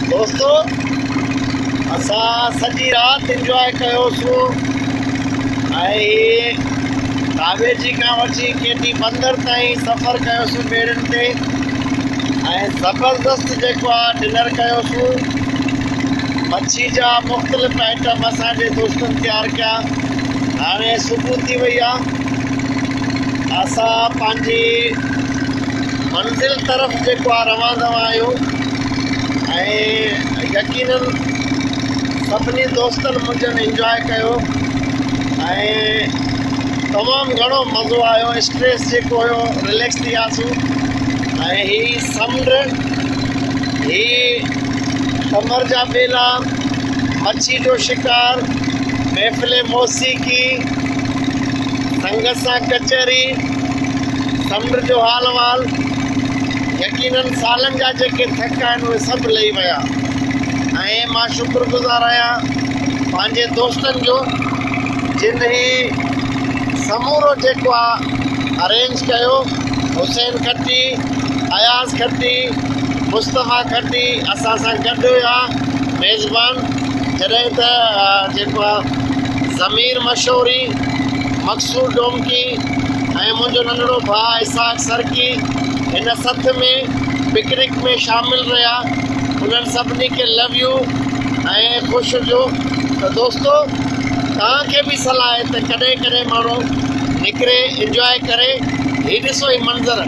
دوستو اسان سڄي رات انجواء ڪيوسون ڪاويجي کان وٺي ڪيٽي بندر تائين سفر ڪيوسون ٻيڙين تي ۽ زبردست جيڪو آ ڊنر ڪيوسون مڇي جا مختلف آئٽم اسان جي دوستن تيار ڪيا هاڻي صبح ٿي وئي آ اسان پنهنجي منزل طرف جيڪو آ روان دوان آهيو ۽ يقيناً سڀني دوستن منهنجن انجواء ڪيو ۽ تمام گهڻو مزو آيو اسٽريس جيڪو هيو رليڪس ٿي وياسون ۽ هي سمنڊ هي ڪمر جا ٻيلا مڇي جو شڪار محفل موسيقي سنگت سان ڪچهري سمنڊ جو حال احوال، يقينن سالن جا جيڪي ٿڪ آهن اهي سڀ لهي ويا ۽ مان شڪرگذار آهيان پنهنجي دوستن جو جن هي سمورو جيڪو آهي ارينج ڪيو حسين کٽي اياز کٽي مصطفيٰ کٽي اسان سان گڏ هيا ميزبان جڏهن ته جيڪو آهي ضمير مشوري مقصود ڊومڪي ۽ منهنجو ننڍڙو ڀاء اسحاق سرڪي هن سٿ ۾ پڪنڪ ۾ شامل رهيا انهن سڀني کي لو يو ۽ خوش هجو ته دوستو توهان کي به صلاح آهي ته ڪڏهن ڪڏهن ماڻهو نڪري انجواء ڪري هي ڏسو هي منظر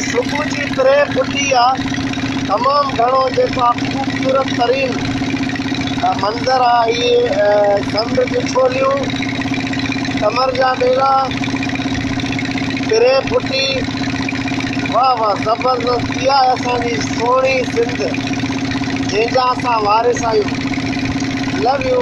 صبح جي تري ڦٽي آ تمام گھڻو جيڪو آ خوبصورت ترين منظر آ هي سمنڊ جي ڇوليون ڪمر جا ٻيلا تري ڦٽي واه واه زبردست اها آهي اسان جي سهڻي سنڌ جنهن جا اسان وارث آهيون لو يو.